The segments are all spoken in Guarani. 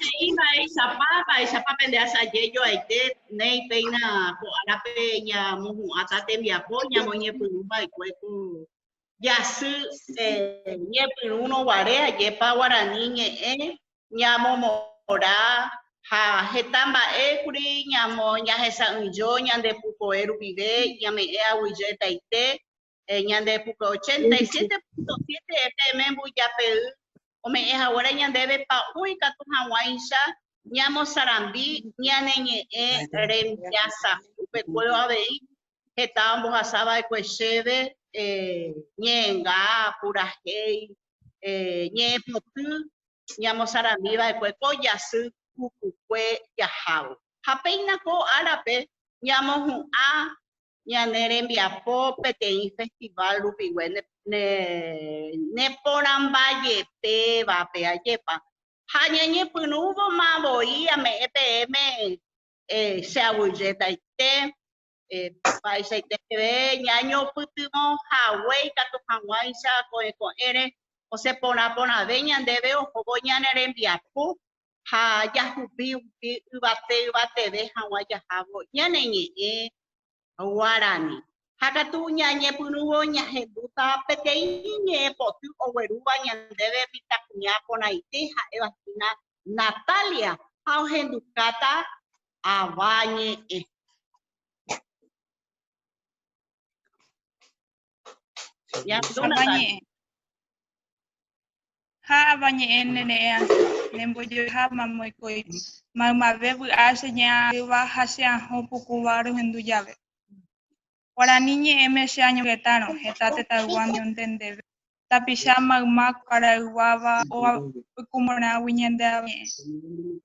He'i mba'éichapa, mba'éichapa pende asaje joaite néi péina ko árape ñamohu'ãta tembiapo ñamoñepyrũ va'ekue ko jasy ñepyrũrõ guare, ajépa guarani ñe'ẽ ñamomora ha heta mba'e kuri ñahesa'ỹijo ñande pukove rupive, ñame'ẽ aguyjetaite ñande pukove 87.7 FM mbyjapey ome'ẽ haguére ñandéve pa'ũ ikatu hag̃uáicha ñamosarambi ñane ñe'ẽ rembiasakue, kuéro avei heta ombohasa va'ekue chéve ñe'ẽnga, purahéi, ñe'ẽpoty ñamosarambi va'ekue ko jasy pukukue jahávo. Ha péina ko árape ñamohu'ã ñane rembiapo peteĩ festival rupigue neporãmba jepévape, ajépa. Ha ñañepyrũvoma voi ame'ẽ peẽme che aguyjétaite Mba'eichaite peve ñañopytyvõ hague ikatu hag̃uáicha ko'ẽ ko'ẽre osẽ porã porãve ñandéve ohóvo ñane rembiapo ha jahupi hupi yvate yvateve hag̃ua jahávo ñane ñe'ẽ guarani. Ha katu ñañepyrũvo ñahembúta peteĩ ñe'ẽ poty oguerúva ñandéve mitãkuña porãite ha'éva hína Natalia ha ohendukáta Ava ñe'ẽ. Ava ñe'ẽ. Ha ava ñe'ẽ nere'ẽ asy, nembojoeháma moikói, maymave vy'a che ñe'ã'ỹva ha che ahõ pukúva rohendu jave. Guarani ñe'ẽme che añongetárõ heta tetãygua ñonde ndéve, tapicha mayma kuaraygua-va óga oikumorãgui ñande avañe'ẽ.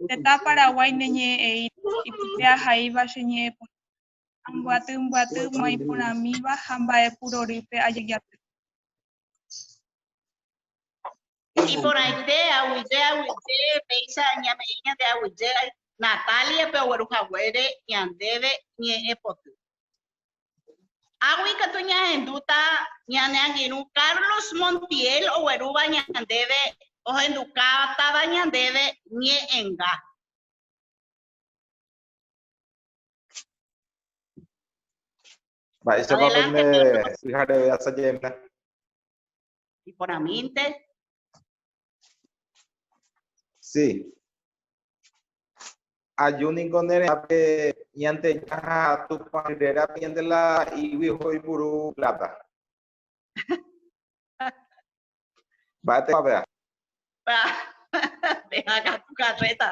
Tetã Paraguái ne ñe'ẽ eíta, ipype ahaíva che ñe'ẽ porãva, ambyaty mbyaty ma iporãmíva ha mba'epurorýpe ajejaty. Iporãite aguyje aguyje péicha ñame'ẽ ñande aguyje Natalia-pe ogueru haguére ñandéve ñe'ẽ poty. Águi katu ñahendúta ñane angirũ Carlos Montiel oguerúva ñandéve ohendukátava ñandéve ñe'ẽnga. Mba'éichapa pende pyhareve asaje'emína? Iporãmínte. Sí. Aju niko ne retãpe ñandeja ha Tupã rérape ñande la igui oipuru plata. Mba'étepa pea. Peha katu carreta.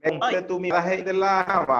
Oi. Tumi la he'i de la hava.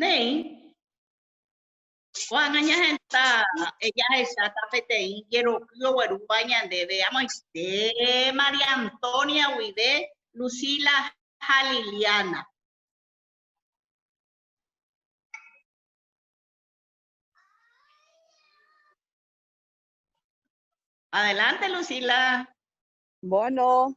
Néi, ko'ág̃a ñahenda jahecháta peteĩ jeroky oguerúva ñandéve amoite María Antonia guive Lucila ha Liliana. Adelante, Lucila. Bueno.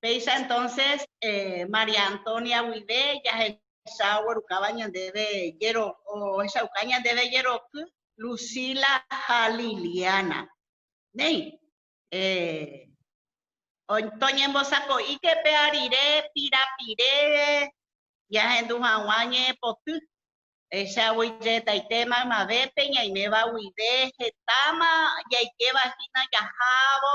Péicha entonces eh, María Antonia guive jahecha oguerukáva ñandéve jero, ohechauka ñandéve jeroky Lucila ha Liliana. Néi, eh, toñembosako'íke pe arire pirapire jahendu hag̃ua ñe'ẽpoty. Ehechávo ijehechaite maymavépe ñaiméva guive hetáma jaikéva hína jahávo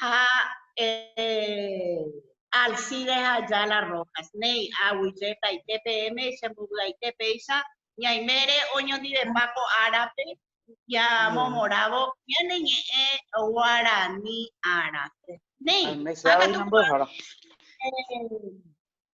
ha eh, Alcide ha Ayala Rojas. Néi, aguyjetaite peẽme che mbovy'aite péicha ñaimére oñondivepa ko árape ñamomorãvo ñane ñe'ẽ guarani ára. Néi, hákatu eh,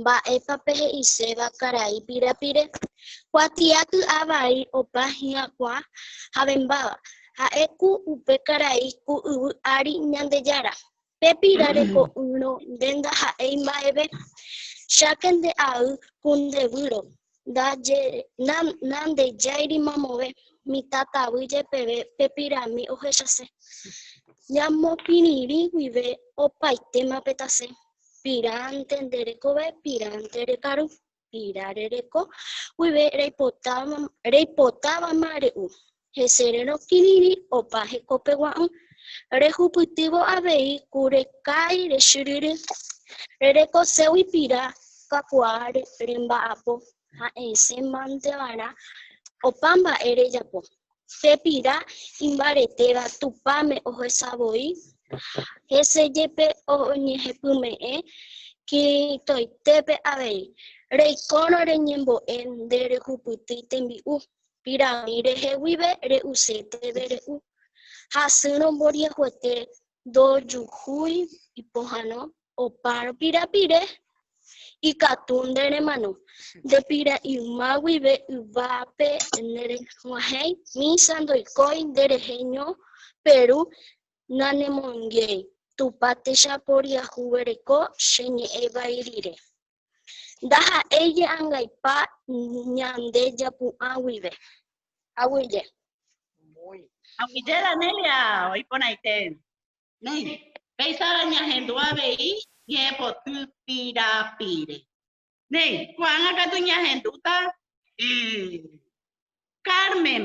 Mba'épa pehe'iséva karai pirapire? Kuatia ky'a vai opa hyakuã havembáva. Ha'e ku upe karai ku yvy ári Ñandejára. Pe pira reko'ỹrõ nde ndaha'éi mba'eve. Cháke nde ay ku nde výro. Nandejái mamove. Mitã tavy jepeve pe pirami ohechase. Ñamopirĩri guive opaitéma pe tase. piránte nde rekove, piránte rekaru, pira rereko guive reipotávama re'u, hese rerõ kirirĩ opa hekópe gua'ỹ, rehupytývo avei ku rekái rechyryry, rerekoségui pira kakuaa remba'apo ha esẽ mante va'erã opa mba'e rejapo. Che pira imbaretéva Tupãme ohecha voi, hese jepe oñehepyme'ẽ Cristoitépe avei. Reikórõ reñembo'e nde rehupytýi tembi'u, pirãmi rehe guive re'use teve re'u. Hasýrõ mboryehuete ndojuhúi ipohãno opa rupira pire, ikatu nde remano nde pira yma guive yvápe ne reguahẽi misa ndoikói nde rehe ño peru nanemonguiéi Tupã techaporiahuvereko che ñe'ẽ vai rire. Ndaha'éi je'angaipa ñande japu'ã guive. Aguyje. Aguyje Danelia, oiporãite. Néi, peisára ñahendu avei ñe'ẽpoty pirapire. Néi, ko'ág̃a katu ñahendúta Carmen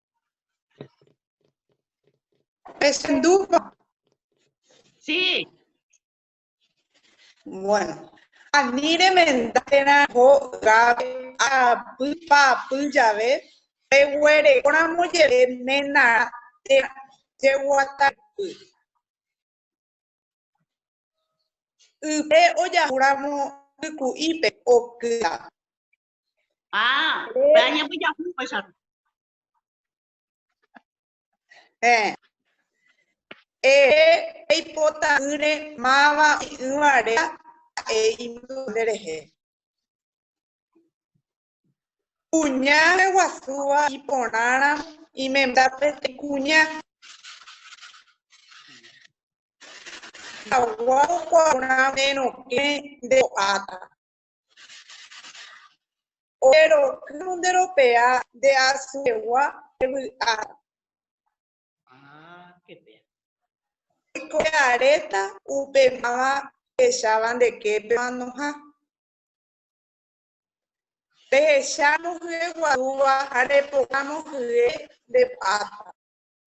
Pesendúva. Sí. Bueno. Ani remenda térã ho gápe apy pa'apy jave, reguerekóramo jeve ména térã jeguatapy. Ype ojahúramo yku'ípe okýta. Ah, para ña voy a jugar, ya. Eh. Eh, ei pota ure mava y uvare e imdunde rehe. Cuña de guasúa y ponara y me da pete cuña. Aguau cuauna de no que de ata. Ojeroky nde ropea nde asyegua pe vy'ára. Oiko pe aréta upe máva hecháva nde képe manoha. Rehecha mohy'e guasúva ha repoka mohy'e nde p'áta.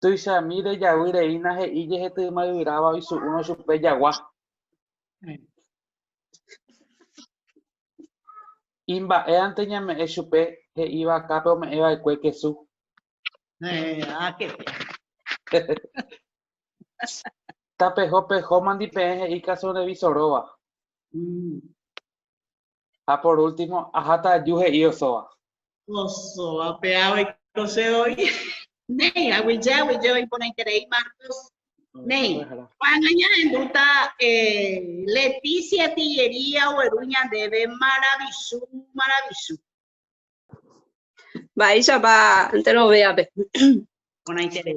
Tuichami rejavy rei nahe'i jehety may'yráva oisu'úrõ chupe jagua. Imba'éante ñame'ẽ chupe he'i vakápe ome'ẽva'ekue kesu. Tapeho peho mandipeẽ he'i kasunrevisoróva. Ha por último, aháta aju he'i osóva. Osóva pe ave oiko che voi. Néi, aguije, aguije oiporãiterei Marcos. Néi, ko'ág̃a ñahendúta Leticia Tillería ogueru ñandéve maravichu, maravichu. Mba'éichapa enterovéape. Porãiterei.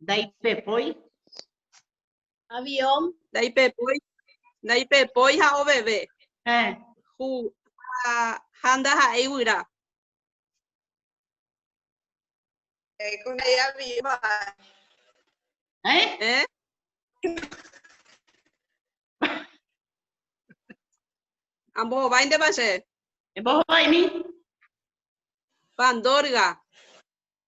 Ndaipepói. Avión. Ndaipepói. Ndaipepói ha oveve. Eh. Hu, ha, ha ndaha'éi guyra. Eh, con ella viva. ¿Eh? ¿Eh? Ambos va de base. Ambos va ni. Pandorga.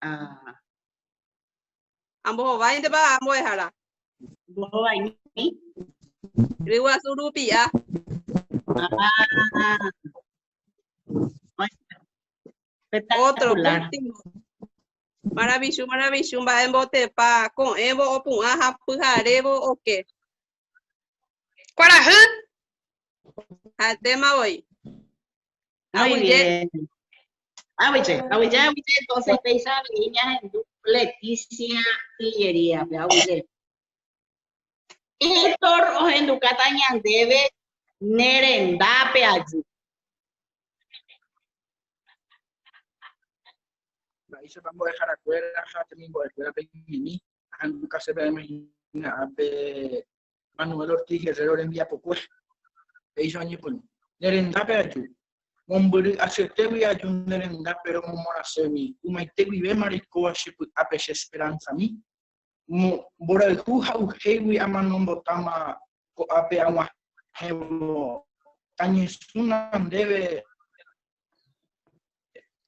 Ah. Ambohováintepa ambuehára. Ambohovaimi. Ryguasu rupi'a. Ah. Otro último. Maravilloso, maravilloso. Mba'e mbotepa ko'ẽvo opu'ã ha pyharévo oke. Kuarahy. Atéma voi. Aguije. Aguije, aguije, aguije. Entonces, Peisa, niña, Leticia, Tillería, aguije. Héctor, ojendu kata ñandeve, nerendápe ayu. Ahí se vamos a dejar afuera, ya tenemos el ahendukáse peẽme hína ápe Manuel Ortiz Guerrero rembiapokue, péicha oñepyrũ. Ne rendápe aju, mombyry asyetegui aju ne renda péro momorãségui, ymaite guivéma reikóva che py'ápe che esperánzami. Mborayhu ha'uhégui amano mbotáma ko'ápe ag̃uahẽvo, tañesũna ndéve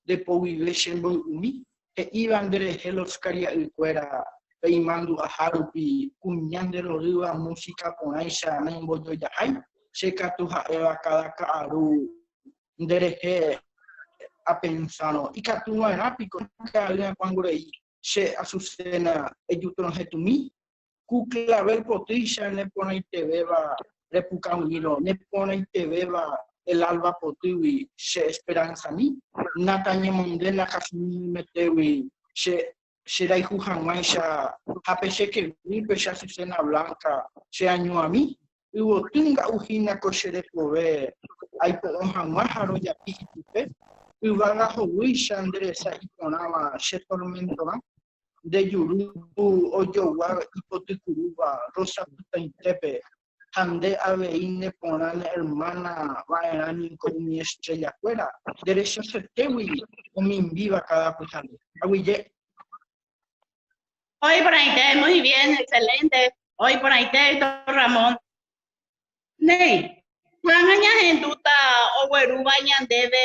Repoguive che mboy'umi, he'íva nde rehe los karia'y kuéra peimandu'aha rupi kuña nde rorýva música porãicha naimbojojahái, che katu ha'éva káda ka'aru nde rehe apensárõ, ikatu va'erã piko ka'ayrã kuãnguréi che Azucena ejutrohetũmi Ku clavel potýicha neporãitevéva repukavỹirõ, neporãitevéva el alba potýgui che esperanzami, nakañemonde nakasununymyetégui che cherayhu hag̃uáicha ha pe che kegui pe che azucena blanca cheañuãmi, yvoty nga'u hína ko che rekove aipo'o hag̃ua ha rojapi ichupe, yvága hovýicha nde resa iporãva che tormentorã. nde juru ojogua ipotykyrúva roisapytãitépe ha nde avei ne porã ne ermána va'erã ningo umi estrellakuéra nde rechasetégui omimbíva káda pyhare. Aguyje. Hoy porãite, muy bien, excelente. Hoy porãite, Héctor Ramón. Néi, ko'ág̃a ñahendúta oguerúva ñandéve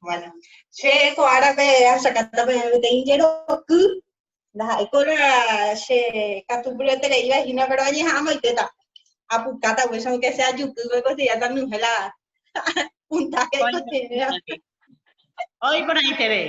Bueno, che ko árape asakata peteĩ jeroky, ndaha'éiko la che katu puraitereíva hína, pero añeha'ãma oitéta. Apukáta guéicha, aunque sea jukýpe considerata ñuhẽ la puntaje cotidiana. Oĩ porãiterei.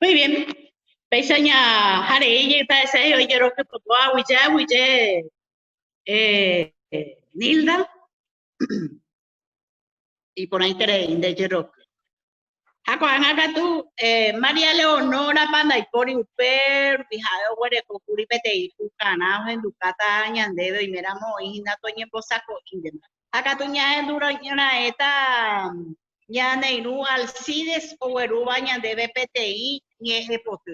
Muy bien. Péicha ña hare'éi jeitarechái oijerokypypua aguyje aguyje eh, eh, Nilda iporãiterei nde jeroky. Ha ko'ág̃a katu eh, María Leonórapa ndaipóri upe rupi ha'e oguereko kuri peteĩ pukarã ohendukáta ñandéve oiméramo oĩhína toñembosako'íntema. Ha katu ñahendu raẽta ñane irũ Alcides oguerúva ñandéve peteĩ ñe'ẽpoty.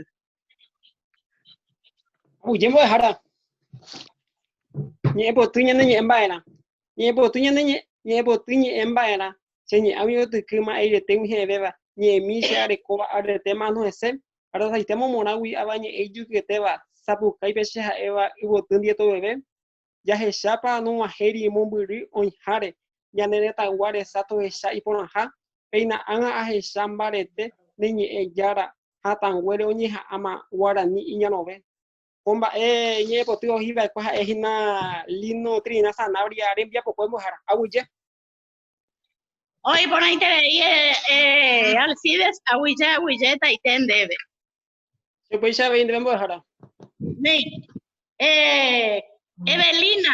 Aguyje mbo'ehára, ñe'ẽpoty ñane ñe'ẽ mba'erã. Ñe'ẽpoty ñane ñe'ẽpoty ñe'ẽ mba'erã, che ñe'ã umi yvotyky ma'eiretegui he'ẽvéva, ñe'ẽmi che arekóva aretema ano hese, arasaitéma omorãgui avañe'ẽ ijyketéva, sapukái pe che ha'éva yvoty ndietoweve, Jahechápa nog̃uahẽri mombyry oĩháre ñane retãygua resa tohecha iporãha? Péina ág̃a ahecha mbarete ne ñe'ẽ Jára hatãnguére oñeha'ãma guarani iñarõve. Ko mba'e ñe'ẽpoty oĩ va'ekue ha'e hína Lino Trinidad Sanabria rembiapokue mbo'ehára. Aguyje. Oĩ porãiterei Alcides aguyje aguyje taite ndéve. Che upéicha avei ndéve mbo'ehára. Néi. Eh, Evelina.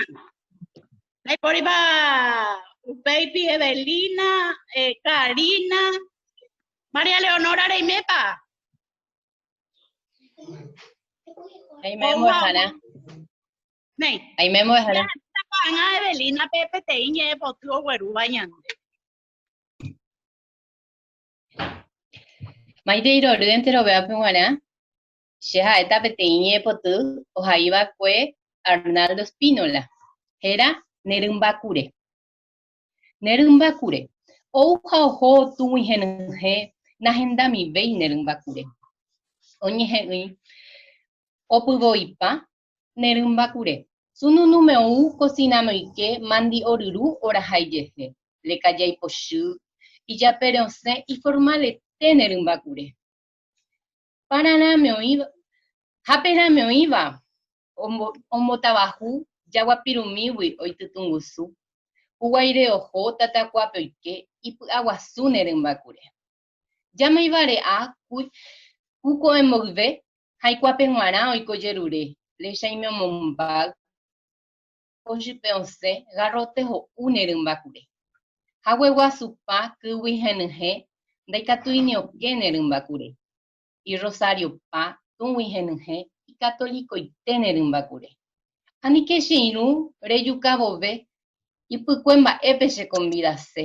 Ndaipóripa upéipi Evelina, eh, Karina, María Leonora reimépa. Aime Opa. mbo'ehára. Néi. Aime mbo'ehára. Tapa'ãgã Evelina pe peteĩ ñe'ẽpoty oguerúva ñande. Maite irory enterovévape g̃uarã, che ha'éta peteĩ ñe'ẽpoty ohaiva'ekue Arnaldo Spínola, héra Ne rymba kure. Ne rymba kure. Ou ha oho tug̃uihenyhẽ nahendamivéi ne rymba kure. Oñehe'ỹi opyvoipa Ne rymba kure, sununúme ou kosina noike mandi'o ryru oraha ijehe, leka jaipochy, ijaperẽ osẽ iformalete ne rymba kure. Pararãme oĩva, haperãme oĩva ombotavahu jaguapirumígui oitytungusu, huguaire oho tatakuápe oike ipy'aguasu ne rymba kure. Jamoivare'a ku ko'ẽ mboyve haikuápe g̃uarã oiko jerure, lechaime omombáy, kochype osẽ, garrote ho'u ne rymba kure. Hague guasupa kýgui henyhẽ ndaikatúi ni oke ne rymba kure. Irrosariopa tũgui henyhẽ ikatolikoite ne rymba kure. Anike che irũ rejuka vove ipykue mba'épe chekonvidase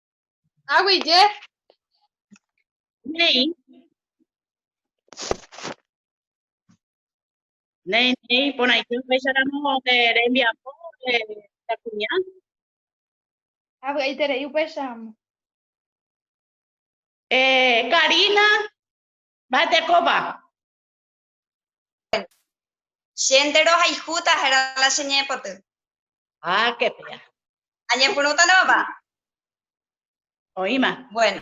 Agui je. Nei. Nei, nei, por ahí yo fecha la no de rembia po de la cuña. Agui ahí te rei upecha. Eh, Karina, va te copa. Che nde rohayhúta héra la che ñe'ẽpoty. Hákepe. Añepyrũta nomapa? Oĩma. Bueno.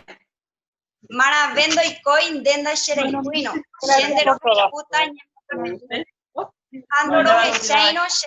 Marãve ndoikói nde ndachereipýirõ. Che nde rohayhúta añepyrũta ha ndorohecháirõ che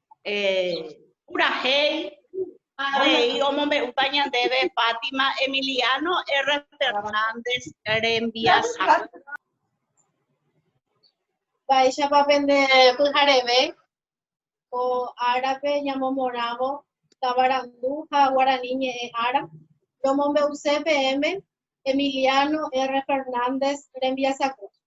purahéi avei omombe'úta ñandéve Fátima Emiliano R. Fernández rembiasa. Mba'éichapa pende pyhareve ko árape ñamomorãvo tavarandu ha guarani ñe'ẽ ára? Romombe'use peẽme Emiliano R. Fernández rembiasakue.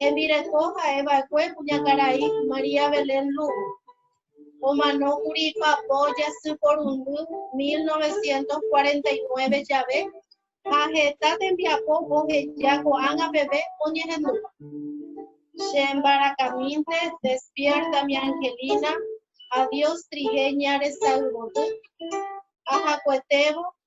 hembireko ha'e va'ekue kuñakarai María Belén Lugo. Omanókuri ipapo jasy porundy 1949 jave ha heta tembiapo oheja ko'ág̃a peve oñehendúva. Che mbarakãmínte, Despierta mi Angelina, Adiós trigueña resayvoty, ahakuetévo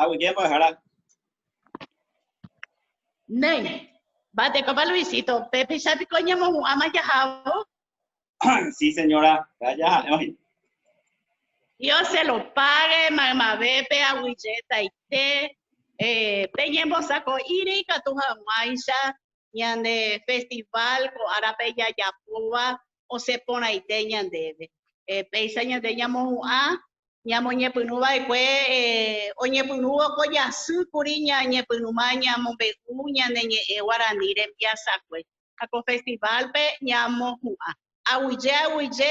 Aguyje mbo'ehára. Néi, mba'etekópa Luisito, pépicha piko ñemohu'ãma jahávo? Sí, señora, péva jaha'e oĩ. Dios se lo pague, maymavépe aguyjetaite eh, peñembosako'íre ikatu hag̃uáicha ñande festival ko árape jajapóva osẽ porãite ñandéve. Péicha ñande ñamohu'ã ñamoñepyrũ va'ekue oñepyrũvo ko jasy kuri ñañepyrũma ñamombe'u ñane ñe'ẽ guarani rembiasakue ha ko festival-pe ñamohu'ã aguyje aguyje